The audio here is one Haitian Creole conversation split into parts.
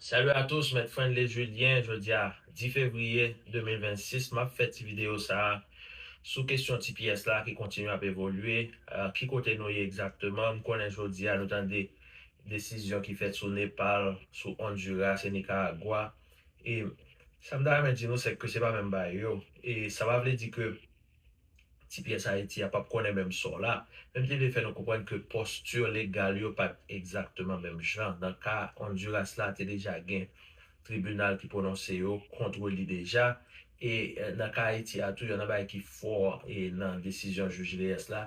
Salut à tous Mèt Friendly Julien jodia 10 fevrier 2026 map fè ti video sa sou kesyon tps la ki kontinye ap evolye ki kote nou ye egzakteman m konnen jodia nou tande desizyon ki fèt sou Nepal sou Honduras e Nicaragua e sa m ta renmen di nou sèke se pa menm bagay yo e sa pa vle di ke Ti pyès Ayiti a pap konnen menm sò la. Menm li vle fè nou konprann ke posture legal yo pat egzakteman menm jan. Nan ka Honduras la te deja gen tribinal ki pwononse yo kontre li deja. E nan ka Ayiti a tou yon nan bagay ki fò e nan desizyon jij Leyes la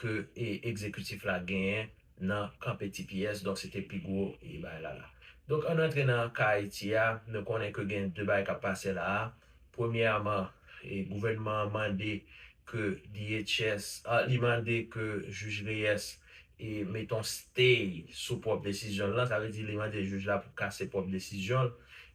ke ekzekitif la genyen nan kanpe tps donk se te pi gwo e bagay la la. Donk ann antre nan ka Ayiti a, nou konnen ke gen de bagay k ap pase la a, premyèman e gouvènman an mande ke DHS a li mande ke jij Reyès e mete yon stay sou pwòp desizyon l lan, sa vle di li mande jij la pou kase pwòp desizyon l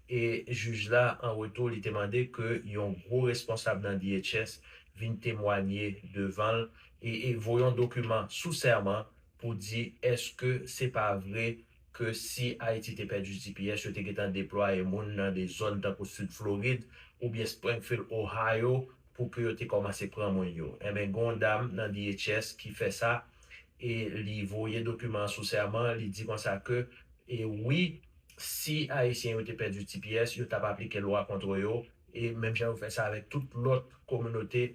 e jij la an retou li te mande ke yon gwo responsab nan DHS vin temwanye devan l, e voyon dokiman sou sèman pou di eske se pa vre ke si Ayiti te pèdi tps yo te gentan deplwaye moun nan de zòn tankou Sid Florid oubyen Springfield Ohio pou ke yo te kòmanse pran moun yo. Enben gen yon dam nan DHS ki fè sa e li voye dokiman an sou sèman, li di konsa ke e wi si Ayisyen yo te pèdi tps yo t ap aplike lwa kontre yo e menm jan yo fè sa avèk tout lòt kominote.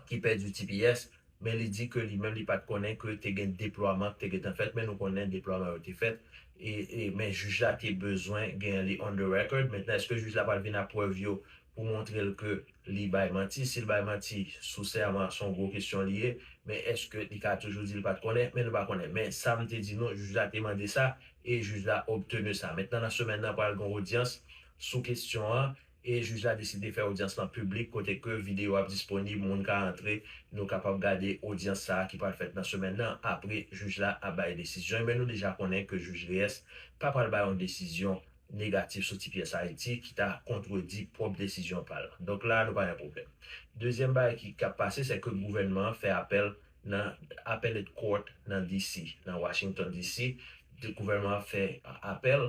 ki pèdi tps, men li di ke li menm li pat konnen ke te gen deplwaman ki te gentan fèt, men nou konnen deplwaman yo te fèt, e men jij la te bezwen gen li on the record, mentnan eske jij la pral vin ak prèv yo pou montre l ke li bay manti, si l bay manti sou sèman son gwo kesyon li ye, men eske li ka toujou di li pat konnen, men nou pa konnen, men sa m te di nou jij la te mande sa e jij la obtenu sa, mentnan nan semèn nan pral gen odyans sou kesyon an E jij la deside fè odyans lan piblik kote ke videyo ap disponib, moun ka antre, nou kapab gade odyans sa a ki pral fèt nan semèn nan, apre jij la ap bay desizyon li. Men nou deja konnen ke jij Reyes pa pral bay yon desizyon negatif sou tps Ayiti ki ta kontredi pwòp desizyon pa l. Donk la a nou pa gen pwoblèm. Dezyèm bagay ki kap pase se ke gouvènman an fè apèl nan Appellate Court nan DC, nan Washington DC, gouvènman an fè apèl,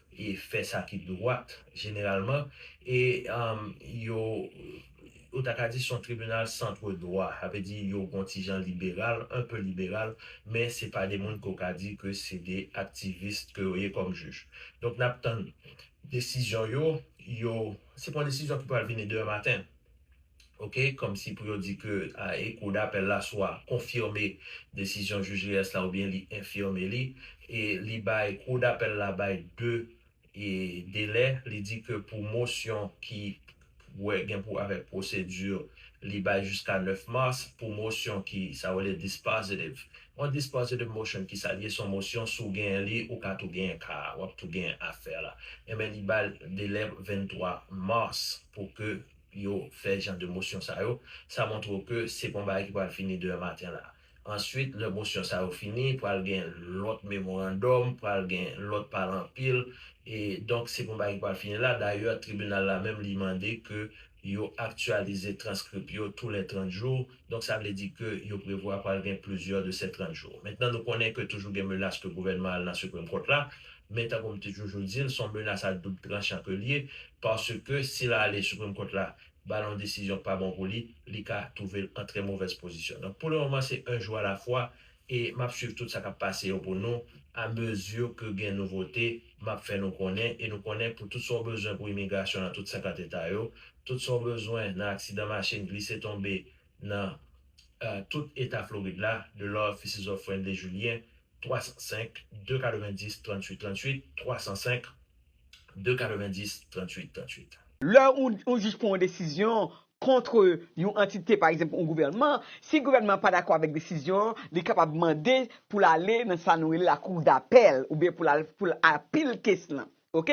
e fè sa ki dwat jeneralman e yo ou ta ka di son tribinal centre droit sa vle di yo gon ti jan liberal un peu liberal men se pa de moun ke w ka di ke se de aktivist ke yo ye kòm jij donk nap tann desizyon yo yo se pa yon desizyon ki pral vini demen maten. ok kòmsi pou yo di ke e kou dapèl la swa konfime desizyon jij Reyes la oubyen li enfime li e li bay kou dapèl la bay 2 e delè li di ke pou mosyon ki wè gen pou avèk pwosedi li bay jiska 9 mars pou mosyon ki sa yo rele dispositive On dispositive motion kisa li ye son mosyon si w genyen li ou ka tou genyen ka a wap tou genyen afè la enben li bal delè 23 mars pou ke yo fè jan de mosyon sa yo sa montre w ke se pa yon bagay ki pral fini demen maten la answit lè mosyon sa yo fini pral gen lòt memorandòm pral gen lòt pale anpil e donk se pa yon bagay ki pral fini la dayè tribinal la menm li mande ke yo aktyalize transkrip yo tou lè 30 jou Donk sa vle di ke yo prevwa pral gen plizyè de sè 30 jou. Mentnan nou konnen ke toujou gen menas ke gouvènman al nan Supreme Court la, men tankou m te toujou di l, son menas a doub tranchan ke l ye, paske si l ale Supreme Court la ba l yon desizyon k pa bon pou li, li ka twouve l an trè movèz pozisyon. Donk pou le moman se un jour à la fois, E map swiv tout sa kap pase yo pou nou, a mesure ke gen nouvote, map fè nou konnen, e nou konnen pou tout sa w bezwen pou imigrasyon nan tout 50 eta yo, tout sa w bezwen nan aksidan machin, glise tonbe nan tout eta Florid la, The Law Offices of Friendly Julien, 305 290 38 38, 305 290 38 38. Lè ou jis pran yon desizyon, kontre yon antite, pa egzanp yon gouvènman, si gouvènman an pa dakò avèk desizyon an, li kapab mande pou l ale nan sa nou rele lakou dapèl oubyen pou l al pou l apil kes lan. Ok.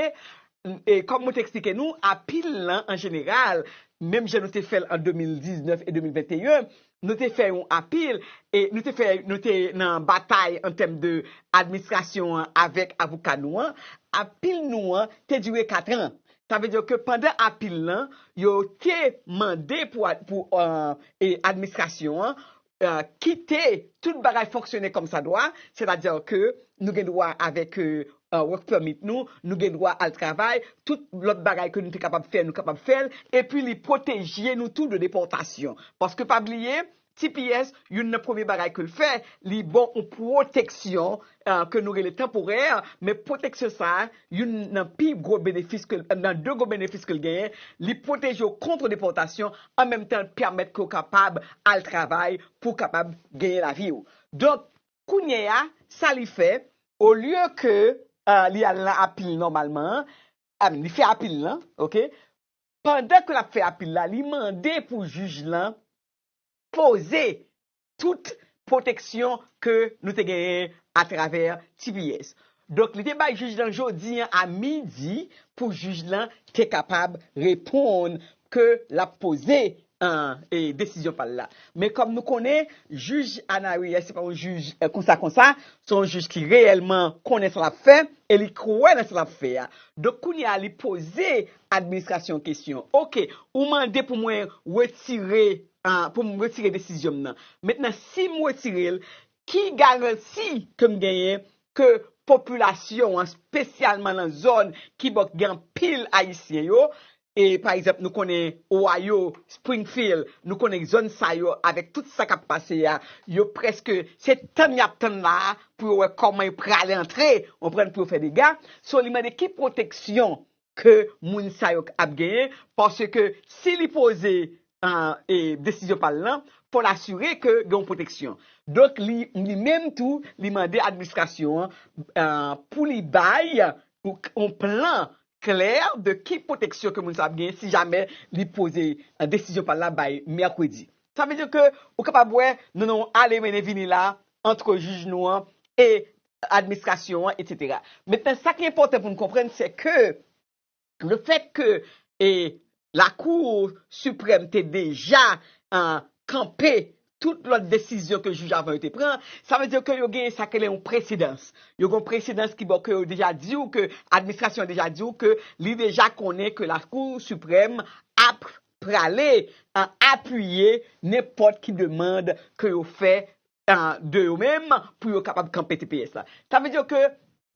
E kòm mwen te eksplike nou, apil lan an jeneral, menm jan nou te fè l an 2019 e 2021, nou te fè yon apil e nou te fè nou te nan batay an tèm de administrasyon an avèk avoka nou an, apil nou an te dire katran. Sa vle di ke pandan apil lan, yo te mande pou administrasyon an kite tout bagay fonksyone kòmsadwa, sètadi ke nou gen dwa avèk work permit nou, nou gen dwa al travay, tout lòt bagay ke nou te kapab fè, nou kapab fè l, epi li pwoteje nou tou de depòtasyon. Paske pa bliye, Tps, youn nan premye bagay ke l fè, li ba w yon pwoteksyon ke nou rele tanporè, men pwoteksyon sa a, youn nan pi gwo benefis ke, nan de gwo benefis ke l genyen, li pwoteje w kontr depòtasyon, an menm tan l pèmèt ke w kapab al travay pou w kapab genyen lavi w. Donk, kounye a, sa li fè, olye ke li al nan apil nòmalman an, a min, li fè apil lan, ok, pandan ke l ap fè apil la, li mande pou jij lan poze tout pwoteksyon ke nou te genyen atravè tps. Donk li te bay jij lan jodi an a midi pou jij lan te kapab reponn ke l ap poze desizyon pa l la. Men kòm nou konnen jij Anary a se pa yon jij konsa konsa, se yon jij ki reyèlman konnen sa l ap fè e li kwè nan sa l ap fè a. Donk kounye a li poze Administrasyon kesyon. Ok, ou mande pou mwen retire, pou m retire desizyon m nan. Mentnan si m retire l, ki garanti ke m genyen ke popilasyon an, spesyalman nan zòn ki bò k gen anpil Ayisyen yo, e pa egzanp nou konnen Ohio, Springfield, nou konnen zòn sa yo avèk tout sa k ap pase a, yo prèske se tann y ap tann la a pou yo wè kòman yo prale antre, ou konprann, pou yo fè dega. So li mande ki pwoteksyon ke moun sa yo k ap genyen paske si li poze desizyon pa l lan fò l asire ke gen yon pwoteksyon donk li menm tou li mande administrasyon an pou li bay yon plan klè de ki pwoteksyon ke moun sa ap genyen si jamè li poze desizyon pa l la bay mèkredi sa vle di ke ou kapab wè nou nan yon ale mennen vini la antre jij nou an e administrasyon an, etc. Mentnan sa ki enpòtan pou n konprann se ke le fèt ke lakou siprèm te deja kanpe tout lòt desizyon ke jij avan yo te pran, sa vle di ke yo gen sa yo rele yon presedans. Yo gen yon presedans ki bon ke yo deja di w ke administrasyon an deja di w ke li deja konnen ke lakou siprèm ap prale apiye nenpòt ki demand ke yo fè de yo menm pou yo kapab kanpe tps la. Sa vle di ke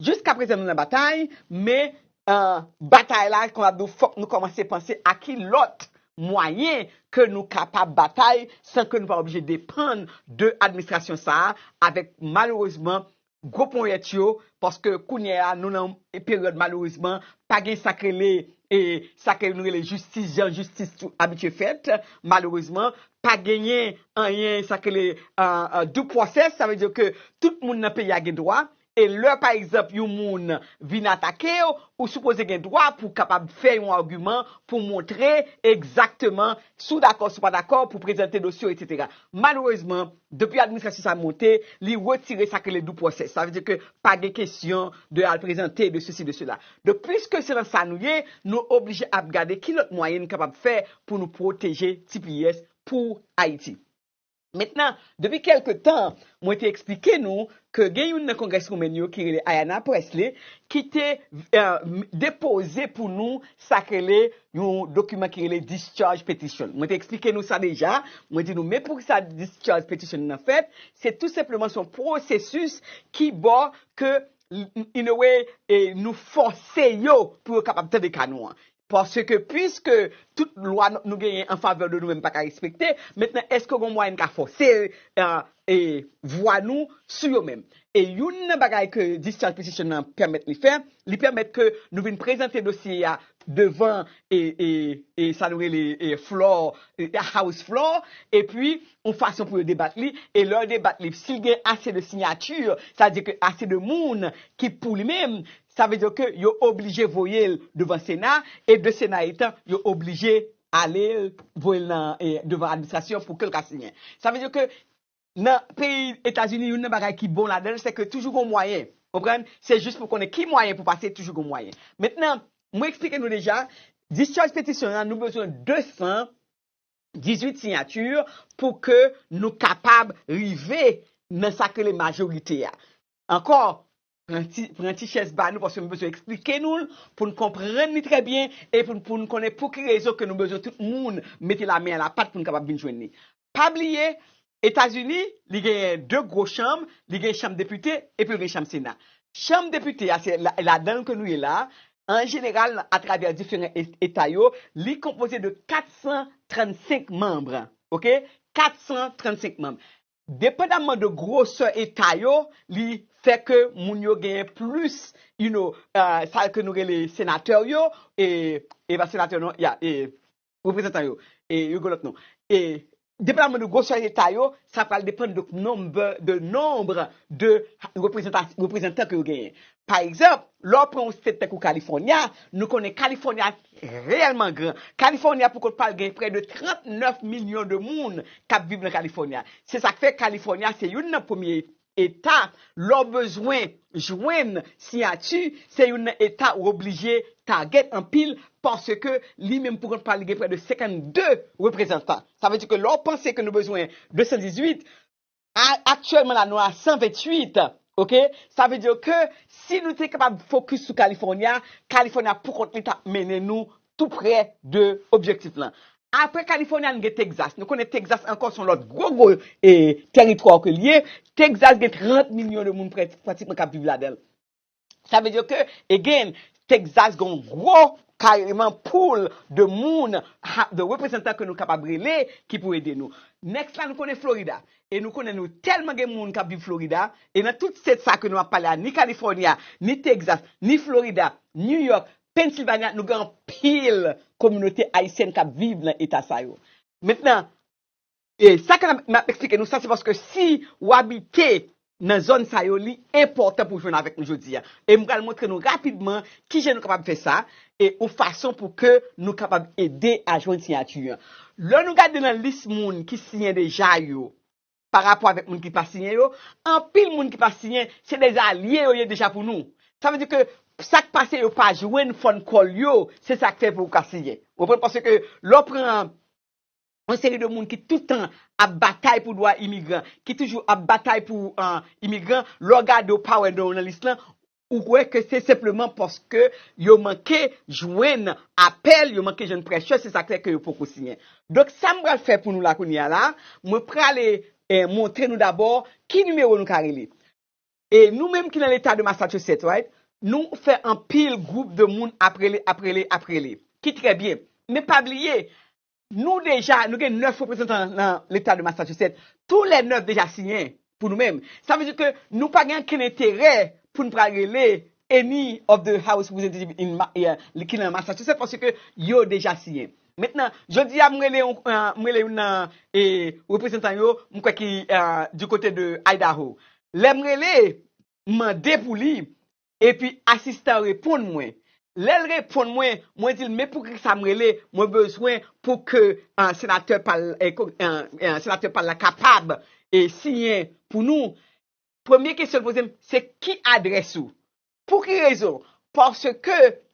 jiska prezan nou nan batay, men batay la kòm ap di w fòk nou kòmanse panse a ki lòt mwayen ke nou kapab batay san ke nou pa oblije depann de administrasyon sa a avèk malerezman gwo ponyèt yo paske kounyè a nou nan yon peryòd malerezman pa gen sa k rele e sa ke nou rele jistis jan jistis abitye fèt malerezman pa genyen anyen sa k rele due process sa vle di ke tout moun nan peyi a gen dwa e lè pa egzanp yon moun vin atake w ou sipoze gen dwa pou w kapab fè yon agiman pou w montre egzakteman si w dakò si w pa dakò pou w prezante dosye w etc malerezman. Depi administrasyon sa monte, li retire sa ki rele due process. Sa vle di ke pa gen kesyon de al prezante, de sesi, de sela. Donk, puiske se nan sa nou ye, nou oblije ap gade ki lòt mwayen nou kapab fè pou nou pwoteje tps pou Ayiti. Mentnan, depi kèlke tan, mwen te eksplike nou ke gen youn nan Congresswoman yo ki rele Ayanna Pressley ki te depoze pou nou sa k rele yon dokiman ki rele Discharge Petition. Mwen te eksplike nou sa deja, mwen di nou men pou sa Discharge Petition nan fèt, se tou senpleman se yon pwosesis ki bo ke in a way nou fòse yo pou yo kapab tande ka nou an. Paske pwiske tout lwa nou genyen an favè de nou menm pa ka respekte, mentnan èske gon mwayen n ka fòse vwa nou sou yo menm? E youn nan bagay ke discharge petition nan pèmèt li fè, li pèmèt ke nou vin prezante dosye a devan sa nou rele floor, house floor, epi yon fason pou yo debat li, e lè yo debat li, si l gen ase de sinyati, sa vle di ke ase de moun ki pou li menm, Sa vle di ke yo oblije voye l devan sena e de sena etan yo oblije ale l voye l nan devan administrasyon pou ke l ka siyen. Sa vle di ke nan peyi Etazini youn nan bagay ki bon ladan l se ke toujou gon mwayen. Konprann? Se jis pou konnen ki mwayen pou pase toujou gon mwayen. Mentnan mwen eksplike nou deja discharge petition an nou bezwen 218 siyatur pou ke nou kapab rive nan sa k rele majorite a. Ankò, pran ti chèz ba nou paske m bezwen eksplike nou l pou n konprann li trè byen e pou n konnen pou ki rezon ke nou bezwen tout moun mete lamen a lapat pou n kapab vin jwenn li. Pa bliye, Etazini, li genyen 2 gwo chanm, li gen chanm depite epi l gen chanm sena. Chanm depite a, se ladan l ke nou ye la a, an jeneral atravè diferan eta yo, li konpoze de 435 manm, ok, 435 manm. Depandamman de grosè eta yo, li fè ke moun yo genyen plis, you know, sa ke nou rele senatè yo, e, e pa senatè non, ya, e, reprezantan yo, e, yo gen lòt non. E, depandamman de grosè eta yo, sa pral depann de nombre, de nombre de reprezantan ke yo genyen. Pa egzanp, lè w pran yon state tankou California, nou konnen California reyèlman gran. California pou kont pa l gen prè de 39 milyon de moun k ap viv nan California. Se sa k fè California se youn nan premye eta lè w bezwen jwenn siyati, se youn nan eta ou oblije target anpil paske li menm pou kont pa l li gen prè de 52 reprezantan. Sa vle di ke lè w panse ke nou bezwen 218, A aktyèlman la nou a 128 ok sa vle di ke si nou te kapab fokis sou California, California pou kont li tap mennen nou tou prè de objektif lan. Aprè California nou gen Texas, nou konnen Texas ankò son lòt gwo gwo e tèritwa ke li ye, Texas gen 30 milyon de moun prè pratikman kap viv ladanl. Sa vle di ke, again, Texas gen yon gwo kareman pool de moun, de reprezantan ke nou kapab rele ki pou ede nou. Next la nou konnen Florida. E nou konnen nou tèlman gen moun kap viv Florida, e nan tout state sa ke nou ap pale a, ni California, ni Texas, ni Florida, New York, Pennsylvania, nou gen anpil kominote Ayisyèn kap viv nan eta sa yo. Mentnan, E sa ke m ap eksplike nou sa se paske si ou abite nan zòn sa yo li enpòtan pou w jwenn avèk nou jodi a. E m pral montre nou rapidman ki jan nou kapab fè sa e yon fason pou ke nou kapab ede a jwenn siyati an. Lè nou gade nan lis moun ki siyen deja yo pa rapò avèk moun ki pa siyen yo, anpil moun ki pa siyen se de alye yo ye deja pou nou. Sa vle di ke sa k pase yo pa jwenn fon kòl yo, se sa k fè pou yo ka siyen. Ou konprann? Paske lè w pran Yon seri de moun ki tout tan ap batay pou dwa imigran, ki toujou ap batay pou imigran, lè w gade w pa wè non yo nan lis lan, ou wè ke se senpleman paske yo manke jwenn apèl, yo manke jwenn prèchè, se sa k fè ke yo poko siyen. Donk sa m pral fè pou nou la kounye a la, mwen prale montre nou dabò ki nimewo nou ka rele. E nou menm ki nan leta de Massachusetts right, nou fè anpil gwoup de moun ap rele, ap rele, ap rele. Ki trè byen. Men pa bliye, Nou deja, nou gen 9 reprezantan nan leta de Massachusetts, tou lè 9 deja siyen pou nou menm. Sa vle di ke nou pa gen ankenn enterè pou nou pral rele any of the house representative in Mass, ki nan Massachusetts paske yo deja siyen. Mentnan, jodi a m rele yon, m rele youn nan reprezantan yo, m kwè ki du kote de Idaho. Lè m rele, m mande pou li, Epi asistan an reponn mwen. Lè l reponn mwen, mwen di l men pou ki sa m rele, mwen bezwen pou ke senatè pa l senatè pa l la kapab siyen pou nou. Premye kesyon l poze m, se ki adrès ou? Pou ki rezon? Paske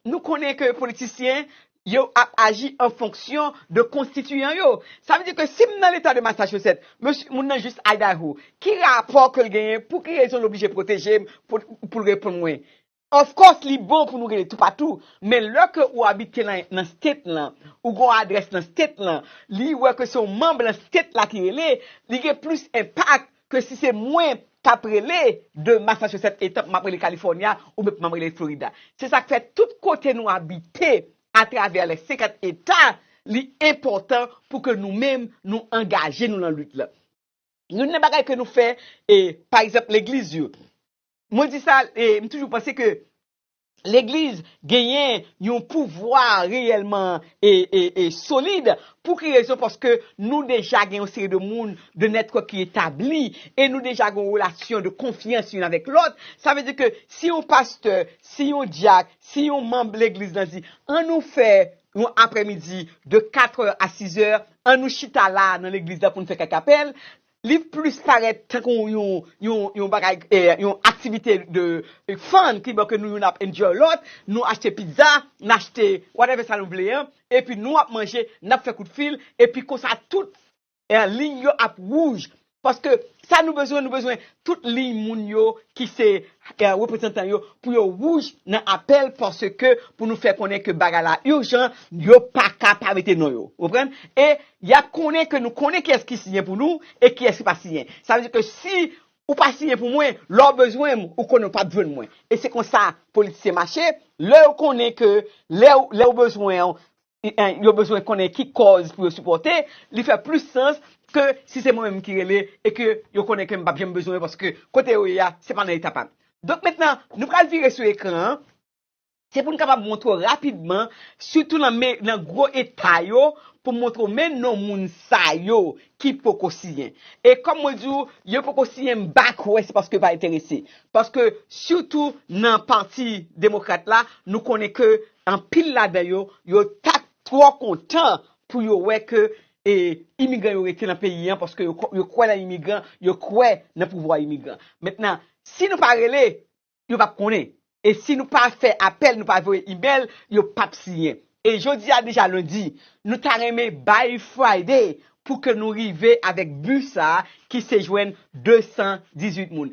nou konnen ke politisyen yo ap aji an fonksyon de konstitiyan yo. Sa vle di ke si m nan leta de Massachusetts, mesye, moun nan jis Idaho, ki rapò ke l genyen, pou ki rezon l oblije pwoteje m, pou l reponn mwen? Of course li bon pou nou rele toupatou, men lè ke ou abite nan state lan, ou gen yon adrès nan state lan, li wè ke se yon manm lan state la ki rele, li gen plis enpak Ke si se mwen kap rele de Massachusetts etan map rele California ou mwen pman rele Florida. Se sak fè tout kote nou abite a travè les 50 eta li enpòtan pou ke nou menm nou angaje nou lan lit lan. Youn nan bagay ke nou fè e pa egzanp legliz yo. Mwen di sa e mtoujou panse ke Legliz genyen yon pouvwa reyèlman e solid. Pou ki rezon? Paske nou deja gen yon seri de moun, de nètwòk ki etabli, e nou deja gen yon relasyon de konfyans youn avèk lòt. Sa vle di ke si yon pastè, si yon dyak, si yon manm legliz lan di, an nou fè yon aprèmidi de katrè a sizè, an nou chita la nan legliz la pou nou fè kèk apèl, Li plis parèt tankou yon bagay, yon aktivite de fun ki bon ke nou youn ap enjoy lòt, nou achte pizza, n achte whatever sa nou vle an, epi nou ap manje, n ap fè kout fil, epi konsa tout liy yo ap wouj. Paske sa nou bezwen, nou bezwen tout liy moun yo ki se reprezantan yo pou yo wouj nan apèl paske pou nou fè konnen ke bagay la urgent, yo pa ka pa mete non yo. Ou konprann? E Y ap konnen ke nou konnen kiyès ki siyen pou nou e kiyès ki pa siyen. Sa vle di ke si ou pa siyen pou mwen, lè w bezwen m, ou konnen ou pa p jwenn mwen. E se konsa politisyen mache, lè yo konnen ke lè yo bezwen w, yo bezwen konnen ki kòz pou yo sipòte, li fè plis sans ke si se mwen menm ki rele e ke yo konnen ke m pa p janm bezwen yo paske kote yo ye a, se pa nan eta pa m. Donk mentnan, nou pral vire sou ekran an. Se pou n kapab montre w rapidman, sitou nan gwo eta yo, pou m montre w men non moun sa yo ki poko siyen. E kòm mwen di w, yo poko siyen m pa kwè se paske yo pa enterese. Paske sitou nan pati demokrat la, nou konnen ke anpil ladan yo, yo ta twò kontan pou yo wè ke imigran yo rete nan peyi an, paske yo kwè nan imigran, yo kwè nan pouvwa imigran. Mentnan, si nou pa rele, yo pap konnen e si nou pa fè apèl nou pa voye email yo pap siyen e jodi a deja lundi nou ta renmen bay Friday pou ke nou rive avèk but sa ki se jwenn 218 moun.